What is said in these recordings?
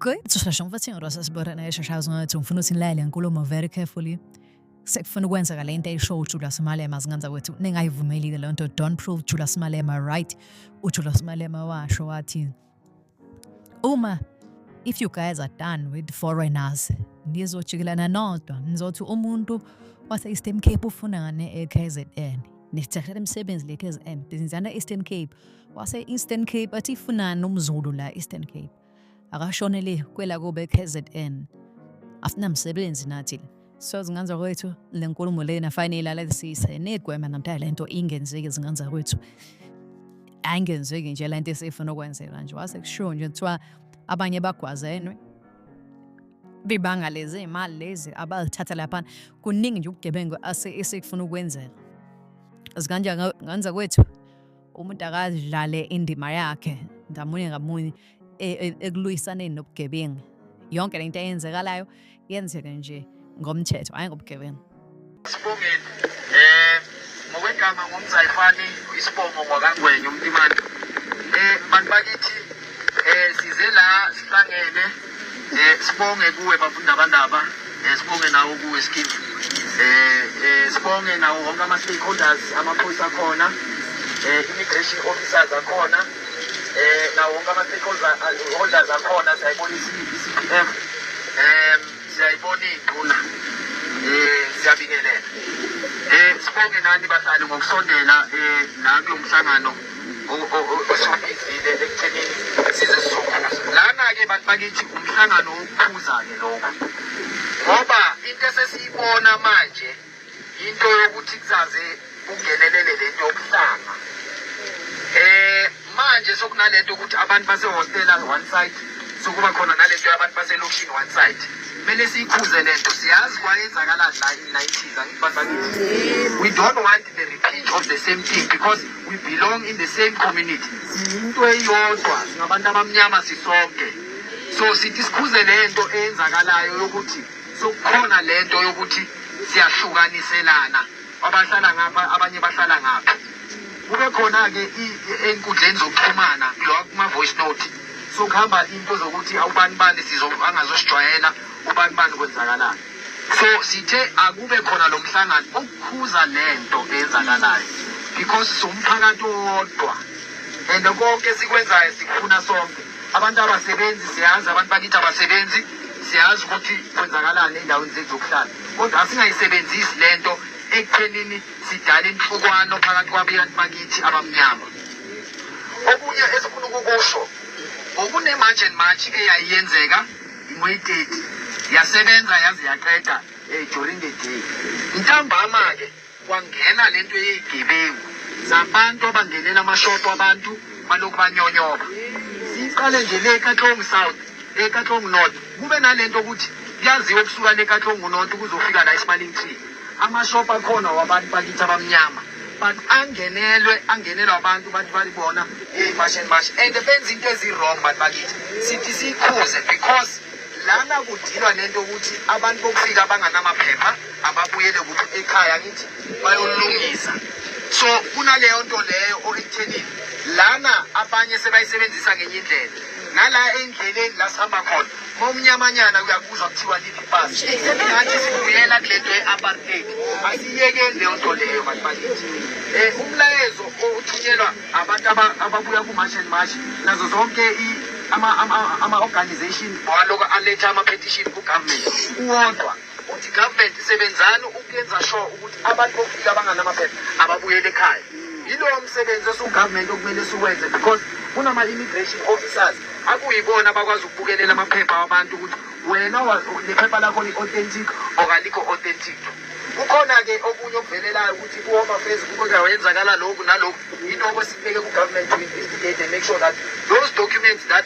Good. So shle shonke bathi ngirasa sibora na shasha zonke ukuthi ngifuna ukuthi nilale inkulumo very carefully. Sekufuna ukwenza kale into eyisho uJula Simalema singanza kwethu ningayivumelile le nto don't prove Jula Simalema right. UJula Simalema washo wathi Uma if you guys are done with foreigners nizojikelana nodwa nizothi umuntu wase-eastern cape ufunane e-kzn nisithathela imisebenzi le-kzn bizinzana e-eastern cape wase-eastern cape athi ifunani umzulu la eastern cape akashonele kwela kobe-kzn asinamsebenzi nathi so zinganza kwethu le nkulumo lena fanele ilalalisise nigwema namtaya le nto ingenzeki zinganza kwethu ayingenzeki nje le nto esifuna ukwenzeka nje wase kushiwo nje kuthiwa abanye bagwazenwe bibanga lezi imali lezi abalithatha laphana kuningi nje ubugebengu esikufuna ukwenzela zikanjani nganza kwethu umuntu akadlale indima yakhe ngamunye ngamunye e, e, ekuliyisaneni nobugebengu yonke lento eyenzekalayo yenzeke nje ngomthetho hayi ngobugebengu sibongeni eh ngokwegama ngumzayifani isibongo ngwakangwenya umntimana eh bantu bakithi eh size la sihlangene Eh sibonge kuwe bafundabandaba, eh sibonge nawo kuwe Skip. Eh eh sibonge nawo wonke ama stakeholders amaphoyisa akhona, eh immigration officers akhona, eh nawo wonke ama stakeholders akhona siyayibona i-CPF. Eh siyayibona induna. Eh siyabingelela. Eh sibonge nani bahlali ngokusondela eh nami umhlangano. osubizile ekuthenini sizesizokhuza lana-ke bantu bakithi umhlangano wokukhuza-ke lokho ngoba into esesiyibona manje into yokuthi kuzaze kungenelele le nto yokuhlanga um manje sokunale nto ukuthi abantu basehostela one side sokuba khona nale nto yabantu baselokishini one side kumele siyikhuze le nto siyazi kwayenzakala la in nineties angithi bantu bakithi we don't want the repeat of the same thing because we belong in the same community siyinto eyodwa singabantu abamnyama sisonke so sithi sikhuze le nto eyenzakalayo yokuthi sokukhona le nto yokuthi siyahlukaniselana abahlala ngapha abanye bahlala ngapha kube khona-ke enkundleni zokuxhumana kulowa kuma-voice note sokuhamba into zokuthi awubani bani sizangazosijwayela ubani bani kwenzakalani so sithe akube khona lo mhlangano ukukhuza lento eyenzakalayo because siwumphakathi owodwa and konke esikwenzayo sikufuna sonke abantu abasebenzi siyazi abantu bakithi abasebenzi siyazi ukuthi kwenzakalani endaweni zethu zokuhlala kodwa asingayisebenzisi le nto ekuthenini sidala inhlukwane phakathi kwabantu bakithi abamnyama okunye esifuna ukukusho ngokunemarch and march eyayiyenzeka Ingwededi yasebenza yaze yaqeda eh, during the day. Ntambama ke kwangena lento yeyigebengu zabantu abangenela amashopo abantu balokhu banyonyoba. Siqale nje le kaTlong South, le kaTlong North. Kube nalento ukuthi kuyaziwa kusuka le kaTlong North kuzofika la eSmiling Tree. amashop akhona wabantu bakithi abamnyama but angenelwe angenelwe abantu bathi balibona imashi and mashi and benza into ezi-wrong bantu bakithi sithi siyikhuze because lana kudilwa nento yokuthi abantu bokufika abanganamaphepha ababuyele kuthi ekhaya ngithi bayolungisa so kunaleyo nto leyo okuthenini lana abanye sebayisebenzisa ngenye indlela nala endleleni la sihamba khona Momnyamanyana uyakuzwa kuthiwa liphi ipasi. Ngathi sibuyela kule nto ye-apartheid. Asiyekeni leyo nto leyo bantu bakithi. Eh umlayezo othunyelwa abantu ababuya ku-march and march nazo zonke ama-organization waloko aletha ama-petition ku-government uwodwa ukuthi government isebenzani ukuyenza sure ukuthi abantu bokufika abanganamaphepha ababuyele ekhaya yilowo msebenzi osugovernment okumele siwenze because kunama-immigration officers akuyibona abakwazi ukubukelela amaphepha wabantu ukuthi wena nephepha lakho li-authentic okalikho authentic kukhona-ke okunye okuvelelayo ukuthi kuhoma fezi kuke wenzakala lokhu nalokhu yiloko sikubeke kugovernment to investigate and make sure that those documents that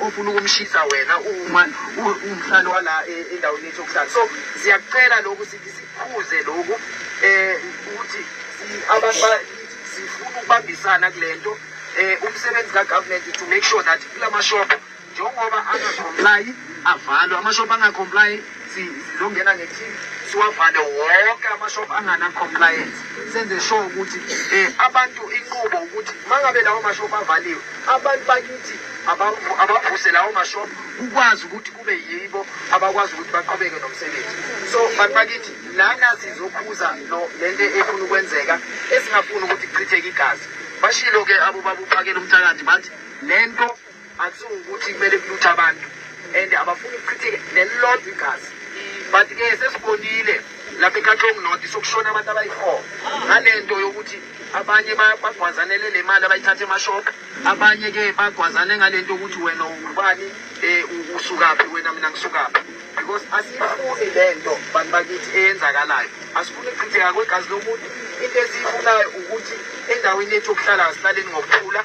ofuna ukumshisa wena uma umhlali wala e, endaweni yethu yokuhlala so siyakucela lokhu sithi sikhuze lokhu um ukuthi abantu sifuna ukubambisana kule nto um umsebenzi kagovernment to make sure that kula mashop njengoba angacomply avalwe amashop angacomply sizongena ngeteam siwavale wonke amashop angana-compliance senze sure ukuthi um abantu inqubo ukuthi uma ngabe lawo mashop avaliwe abantu bakithi abavuse lawo mashop kukwazi ukuthi kube yibo abakwazi ukuthi baqhubeke nomsebenzi so bantu bakithi lana sizokhuza le nto efuna ukwenzeka esingafuni ukuthi kuchitheke igazi bashilo-ke abo babuphakela umthakathi bathi le nto Akusuke ukuthi kumele kuluthe abantu and abafuni ukuchitheke nelilodwa igazi but ke sesibonile lapha eKatlong North sokushona abantu abayi-four ngale nto yokuthi abanye bagwazanele le mali abayithatha emashop abanye ke bagwazane ngale nto yokuthi wena ubani um usukaphi wena mina ngisukaphi because asiyifuni le nto bantu bakithi eyenzakalayo asifuni ukuchitheka kwegazi lomuntu into esiyifunayo ukuthi endaweni yethu yokuhlala asihlaleni ngokuthula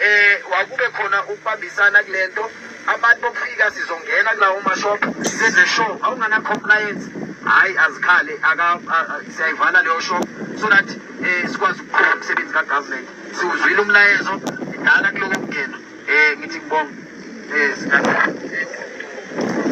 eh wakube khona ukubambisana kulento abantu bokufika sizongena kulawo mashop senze show awungana compliance hayi azikhale aka siyayivala leyo show so that eh sikwazi ukuqhubeka umsebenzi ka government siwuzwile umlayezo idala kuloko kungena eh ngithi ngibonga eh sikahle